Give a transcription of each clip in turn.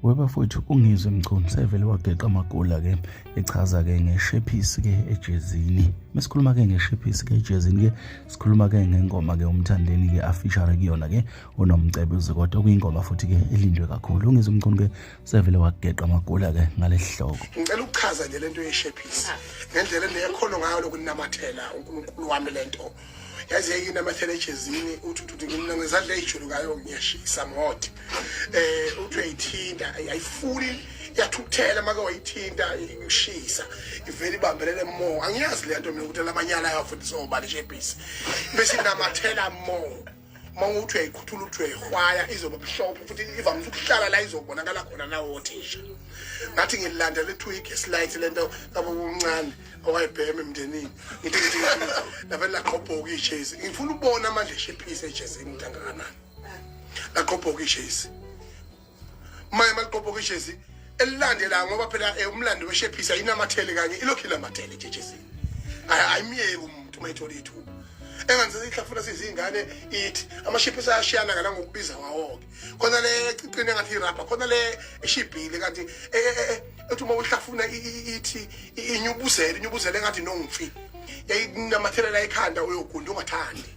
webafowethu ungizwe mchunu sevele wageqa amagula ke echaza ke ngeshephisi ke ejezini mesikhuluma ke ngeshephisi ke ejezini ke sikhuluma ke ngengoma ke umthandeni ke afishare kuyona ke unomcebezi kodwa kuyingoma futhi ke elindwe kakhulu ungizwe mchunu ke sevele wageqa amagula ke ngalehloko ngicela ukuchaza nje lento yeshephisi ngendlela endiyekhona ngayo lokunamathela uNkulunkulu wami lento yaze yayinamathela ejezini uthi uthi mina ngizadla ejulukayo ngiyashisa mhot eh uthi uyayithinta ayifuni yathukuthela make wayithinta ikushisa ivele ibambelele mo angiyazi le nto mina ukuthi lamanyala yafuthi sobani shebhisi bese inamathela mo uma uthi uyayikhuthula uthi uyayihwaya izoba mhlophe futhi ivamise ukuhlala la izobonakala khona nawo othisha ngathi ngilanda lethu igesi light lento labo kuncane owayibhema emndenini ngithi ngithi nabeni laqhobhoka ijezi ngifuna ubona amandla eshephise ejezini ntangakanani laqhobhoka ijezi maye maliqophoka ijezi elilandela ngoba phela eh, umlando weshephisa inamathele kanye ilokhu inamathele nje ejezini ayimyeki umuntu uma ethola ithuba enganzisa ihlafuna sizingane ithi amashiphi sayashiyana ngala ngokubiza wawoke khona le ecicini engathi irabha khona le eshibhile kanti e, e, e, ethi uma uhlafuna ithi inyubuzele inyubuzele engathi nongfi yayinamathelela ekhanda uyogunda ungathandi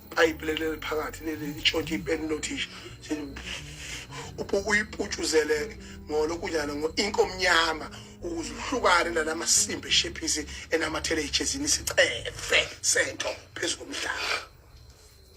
ipayipi leli eliphakathi leli litshontshe ipeni lothisha uyiputshuzele ngolokhu njalo ngo-ink omnyama ukuze uhlukane nala masimba eshephisi enamathele ejezini sicefe sento phezu komhlaba